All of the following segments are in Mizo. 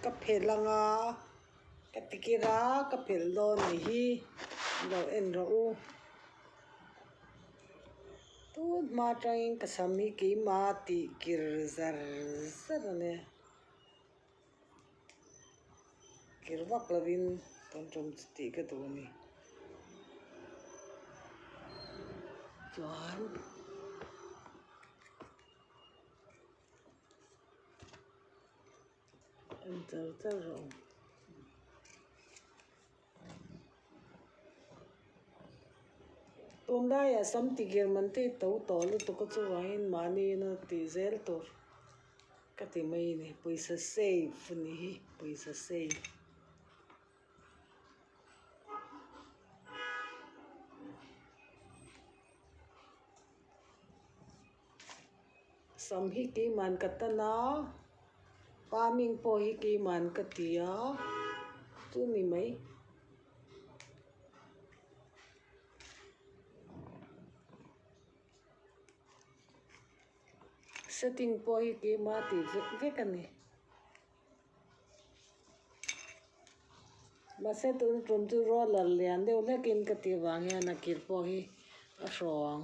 Ka phelh ang a, ka ti kir a, ka phelh dawn ni hi, lo en rawh u. Tun hma atangin ka sam hi keima tih kir zar zar a nia. Kir vak lovin kan rawm chu tih ka duh a ni. Chuan. Tunlai ah sam ti ger man teh to tawh lutuk a chuvangin mahni ina tih zel tur ka ti mai a ni. Pawisa save a ni hi, pawisa save. Sam hi keiman ka tan a, pa ming pawh hi keiman ka ti a, chu ni mai. Setting pawh hi keima ti vek vek a ni. Mahse tun tum chu roller lian deuh hlekin ka tih vang hian a kir pawh hi a hrawng.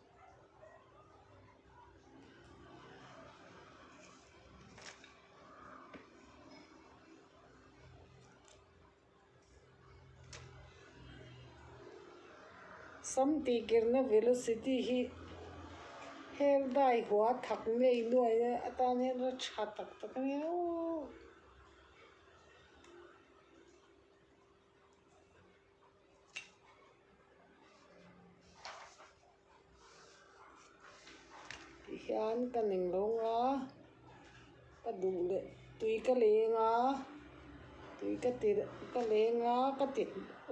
Sam tihkirhna velocity hi hel dai hua thak ngei nuai a, atan hian ram tha tak tak a nia uuh. hian ka ning lo nga ka duh leh tui ka leng a tui ka ti ka leng a ka ti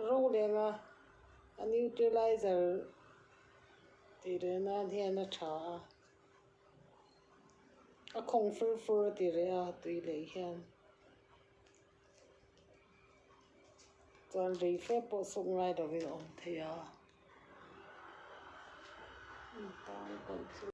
ro leng a a neutralizer ti reh nan hian a tha a a khawng fur fur a ti reh a tui leh hian. Chuan rei fe pawh sawk ngai lo in awm thei a.